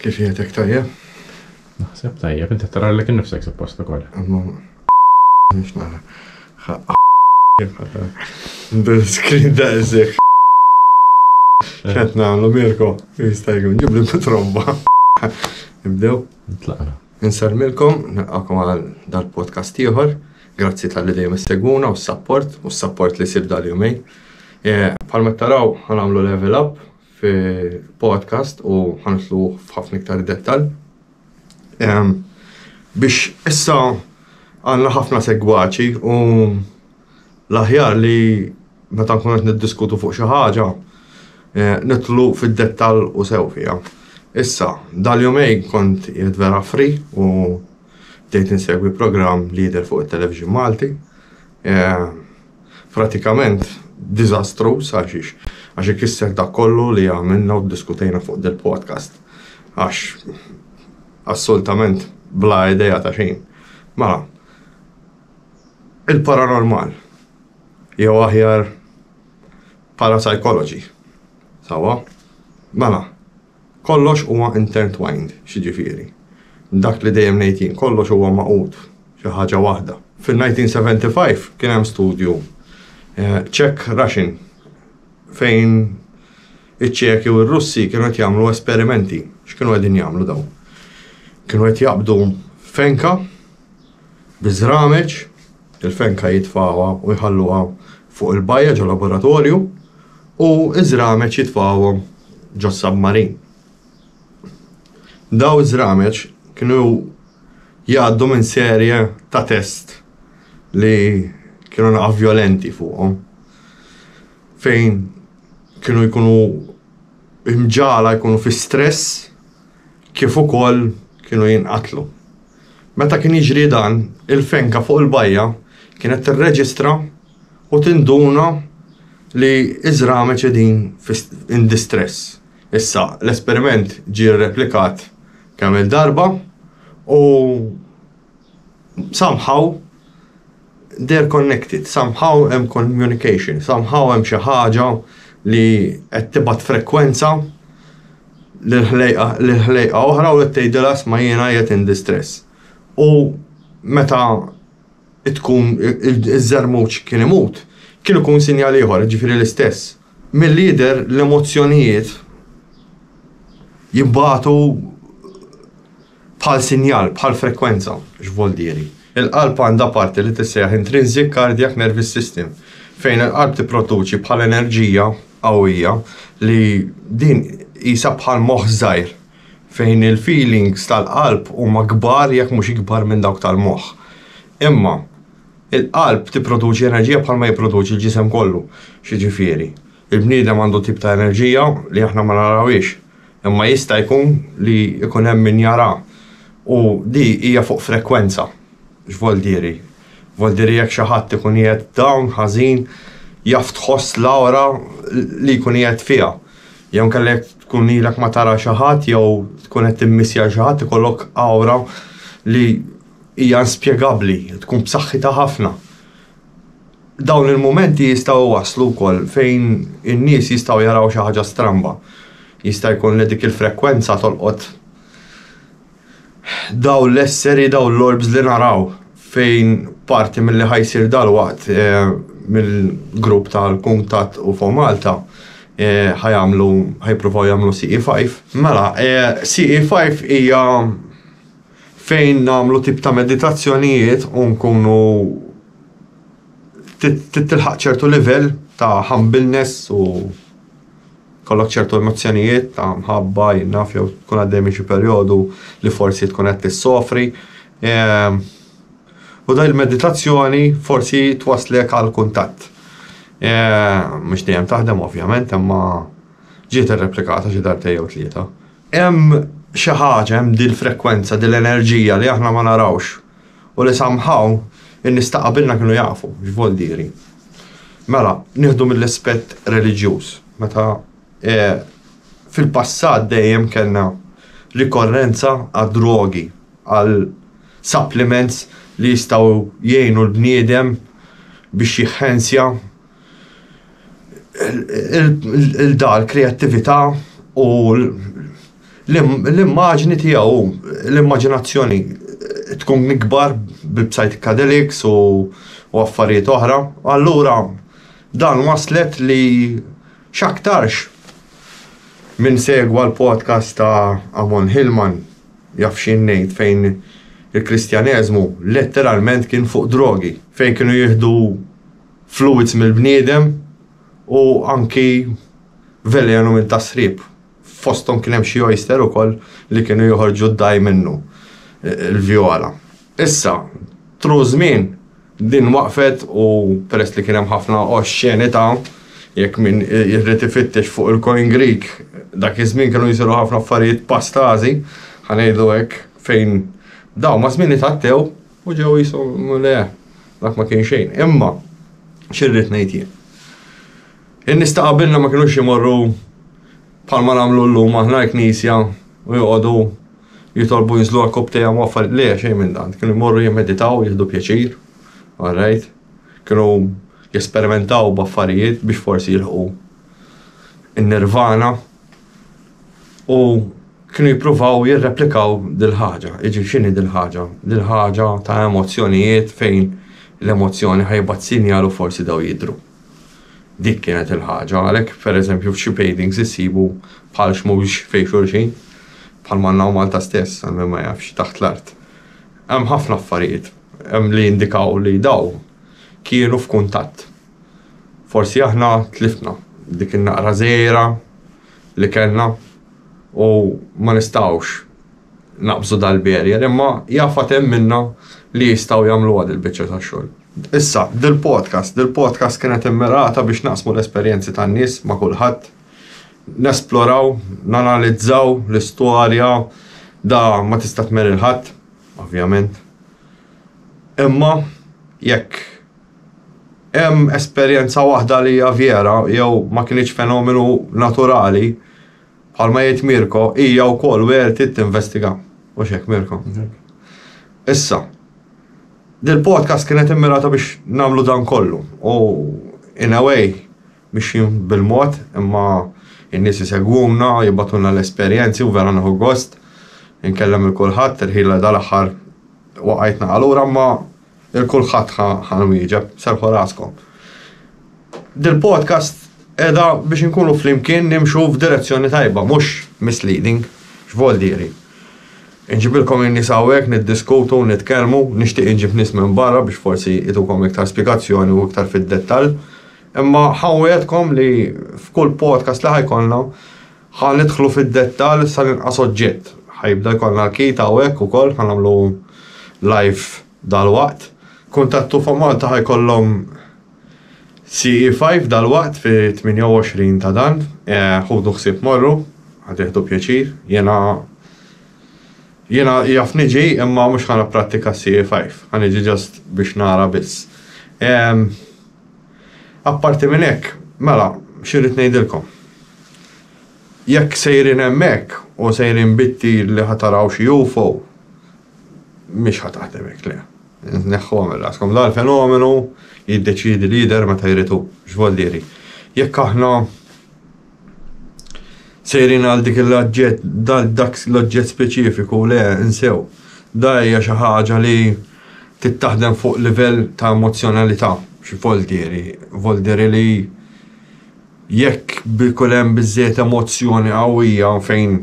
Kif qiegħedek, tajjeb? Naħseb tajjeb, inti taralek innifsek suppost ukoll. Imma nix nara. Screen da eżek. Kent nagħmlu Mirko, jista' jkun ġibli mitromba. Nibdew? Nitlaqna. Insarmilkom, nilqakom għal dal-podcast ieħor. Grazzi tal-li dejjem segwuna u s-sapport, u s-sapport li sib dal-jumej. Palma taraw, għanamlu level up, fi podcast u ħanitlu f'ħafna iktar dettal. Biex issa għanna ħafna segwaċi u l-aħjar li meta nkun qed niddiskutu fuq xi ħaġa eh, nitlu fid-dettal u sew fiha. Issa, dal-jumej kont jed vera fri u bdejt insegwi programm li jidher fuq it-television Malti. Eh, Pratikament diżastruż għal xiex? Għax ikisser dak kollu li għamilna u ddiskutejna fuq dil-podcast. Għax assolutament bla idea ta' xejn. Mela, il-paranormal, jew aħjar parapsychology, sewwa? Mela. Kollox huwa intertwined, x'jiġifieri? Dak li dejjem ngħid jien, kollox huwa magħqud f'xi ħaġa waħda. Fin-1975 kien hemm studju Czech-Russian fejn iċ-Ċeki u r-Russi kienu qed jagħmlu esperimenti. X'kienu qegħdin jagħmlu dawn? Kienu qed jaqbdu fenka Biż-żrameġ, il-fenka jitfgħuha u jħalluha fuq il-bajja ġol-laboratorju u ż-żrameġ jitfgħuhom ġos-submarin. Dawn iż-żrameġ kienu jgħaddu minn serje ta' test li kienu naqgħa vjolenti fuqhom fejn kienu jkunu imġagħla jkunu fi stress kif ukoll kienu jinqatlu. Meta kien jiġri dan, il-fenka fuq il-bajja kienet tirreġistra u tinduna li iż-żrami qegħdin in distress. Issa, l-esperiment ġie rreplikat kemm-il darba u somehow They're connected, somehow hemm communication, somehow hemm xi ħaġa li qed tibgħat frekwenza lil ħlejqa lil ħlejqa oħra u qed tgħidilha sma' jiena qiegħed in distress. U meta tkun iż-żermuġ kien imut, kien ikun sinjal ieħor, jiġifieri l-istess. Milli jidher l-emozzjonijiet jibgħatu Bħal sinjal, bħal frekwenza. X'voldieri? Il-qalb għandha parti li tissejjaħ intrinsic cardiac nervous system fejn il-qalb tipproduċi bħal enerġija qawwija li din qisha bħal moħħ żgħir fejn il-feelings tal-qalb huma kbar jekk mhux ikbar minn dawk tal-moħħ. Imma il-qalb tipproduċi enerġija bħal ma jipproduċi l-ġisem kollu. X'jiġifieri? Il-bniedem għandu tip ta' enerġija li aħna ma narawhiex. Imma jista' jkun li jkun hemm min jara u di hija fuq frekwenza. X'vol diri? Vol diri jekk xi ħadd ikun qiegħed down, ħażin, jaf tħoss l-awra li jkun qiegħed fiha. Jew inkella jekk tkun ilek ma tara xi ħadd jew tkun qed timmissja xi ħadd ikollok awra li hija inspjegabbli, tkun b'saħħitha ħafna. Dawn il-mumenti jistgħu jwasslu wkoll fejn in-nies jistgħu jaraw xi ħaġa stramba. Jista' jkun li dik il-frekwenza tolqot dawn l-esseri, dawn l-orbs li naraw fejn parti milli ħa jsir dalwaqt eh, mill-grupp tal-kuntatt u fuq Malta eh, ħa jagħmlu ħa jippruvaw jagħmlu CE5. Mela, eh, CE5 hija fejn nagħmlu tip ta' meditazzjonijiet u nkunu titilħaq ċertu livell ta' humbleness u kollok ċertu emozzjonijiet ta' mħabba jinnaf jew tkun għaddej minn xi perjodu li forsi tkun qed tissofri. Ehm, u da il-meditazzjoni forsi twaslek għal kuntatt. Ehm, mhux dejjem taħdem ovvjament, imma ġiet irreplikata xi darbtej jew tlieta. Hemm xi ħaġa, hemm dil frekwenza, dil enerġija li aħna ma narawx u li somehow in-nies ta' qabilna kienu jafu x'vol diri. Mela, nieħdu mill-aspett reliġjuż, meta fil-passat dejjem kellna rikorrenza għad-drogi, għal supplements li jistgħu jgħinu l-bniedem biex jihhensja il-dar kreattività u l-immaġni tiegħu, l-immaġinazzjoni tkun ikbar bil-psychedelics u affarijiet oħra. Allura dan waslet li x'aktarx min segwa l-podcast ta' Amon Hillman jaf xi ngħid fejn il-Kristjaneżmu letteralment kien fuq drogi fejn kienu jieħdu fluwids mill-bniedem u anki velenu minn tas-sriep. Fosthom kien hemm xi oyster ukoll li kienu joħorġu d-dgħajn minnu, il-vjola. Issa, tru ż-żmien, din waqfet u peress li kien hemm ħafna oxxenità, jekk min irid ifittex fuq il-Coin Greek, dak iż-żmien kienu jsiru ħafna affarijiet pastażi, ħa ngħidu hekk, fejn dawn maż-żmien itgħattew U ġew qishom le, dak ma kien xejn. Imma xirrid ngħid jien. In-nies ta' qabilna ma kinux imorru bħalma nagħmlu llum aħna l-knisja u joqogħdu jitolbu jinżlu għal kopp tejja ma affarijiet le xejn minn dan. Kienu jmorru jimmeditaw, jieħdu pjaċir, all right? Kienu jesperimentaw b'affarijiet biex forsi jilħqu in-nirvana. u kienu jippruvaw jirreplikaw dil-ħaġa. Iġi x'inhi dil-ħaġa? Dil-ħaġa ta' emozzjonijiet fejn l-emozzjoni ħajbat sinjal u forsi daw jidhru. Dik kienet il-ħaġa, għalhekk pereżempju f'xi paintings issibu bħal xmux fejn xulxin, bħal manna u Malta stess, għal min ma jafx, taħt l-art. Hemm ħafna affarijiet li jindikaw li daw kienu f'kuntatt. Forsi aħna tlifna dik in-naqra żgħira li kellna u ma nistgħux naqbżu dal-barrier imma jaf għad hemm minna li jistgħu jagħmluha dil-biċċa ta' xogħol. Issa, dil-podcast, dil-podcast kienet immirata biex naqsmu l-esperjenzi tan-nies ma' kulħadd, nesploraw, nanalizzaw l-istorja da ma tista' tmerr il-ħadd, ovvjament. Imma jekk Hemm esperjenza waħda li hija vjera jew ma kinitx fenomenu naturali, bħalma jgħid Mirko, hija wkoll werti tinvestiga. Mhux hekk Mirko? Issa, dil-podcast kienet immirata biex nagħmlu dan kollu u in a way mixjin bil-mod imma in-nies isegwuna, jibgħatulna l-esperjenzi u vera nieħu gost. Inkellem il-kulħadd, il-ħila dal-aħħar waqajtna għalura ma Il kulħadd ħa nwieġeb, serrħu raskom. Dil-podcast qiegħda biex inkunu flimkien nimxu f'direzzjoni tajba, mhux misleading. X'vol diri? Inġibilkom in-nies hawnhekk niddiskutu, nitkellmu, nixtieq inġib nies minn barra biex forsi itukom iktar spjegazzjoni u iktar fid-dettall. Imma ħa nwiegħedkom li f'kull podcast li ħa jkollna Ħa nidħlu fid-dettall sa l-inqas oġġett. Ħa jibda jkollna l-kit hawnhekk ukoll, ħa nagħmlu live dalwaqt. Kuntattu fuq Malta ħa jkollhom CE5 dalwaqt fi 28 ta' dan. Eh, ħudu ħsieb morru, ħa tieħdu pjaċir. Jiena jiena jaf niġi imma mhux ħa napprattika CE5. Ħa niġi ġast biex nara biss. Ehm, Apparti minn hekk, mela, x'irrid ngħidilkom? Jekk sejrin hemmhekk u sejrin bit-tir li ħa taraw xi UFO, mhix ħa taħdem hekk, le. Neħħuha minn raskom. Dan il-fenomenu jiddeċiedi li jidher meta jrid hu, x'volli jrid. Jekk aħna Sejrin għal dik l-oġġett, dal dak l-oġġett speċifiku, le, insew. Da hija xi ħaġa li tittaħdem fuq livell ta' emozzjonalità, x'voldieri? Voldieri li jekk bikun hemm biżżejjed emozzjoni qawwija fejn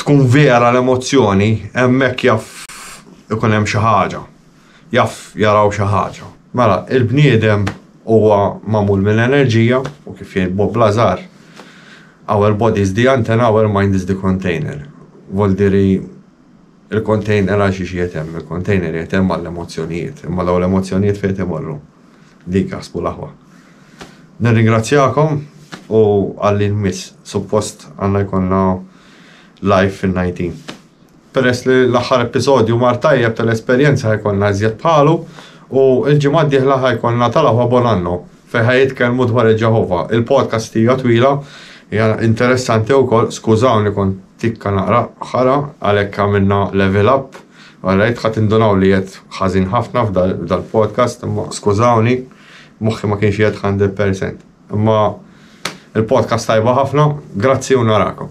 tkun vera l-emozzjoni, hemmhekk jaf ikun hemm xi ħaġa. jaf jaraw xi ħaġa. Mela, il-bniedem huwa magħmul minn enerġija u kif jgħid Bob Lazar, our body is the antenna, our mind is the container. Voldiri il-container għal xiex jetem, il-container jetem għall-emozzjonijiet, imma daw l-emozzjonijiet fejt imorru. Dik għasbu laħwa. Nirringrazzjakom u għallin miss, suppost għanna jkonna live fin-19. Peress li l-aħħar episodju mar tajjeb tal-esperjenza ħa jkollna iżjed bħalu u l-ġimgħa d-dieħla ħa jkollna tal-aħwa Bon Anno fejn ħa jitkellmu dwar il-Ġeħova. Il-podcast hija twila, hija interessanti wkoll, skużawni kont tikka naqra ħara għalhekk għamilna level up, alright ħa tindunaw li qiegħed ħażin ħafna f'dal-podcast imma skużawni moħħi ma kienx qiegħed 100%. Imma il-podcast tajba ħafna, grazzi u narakom.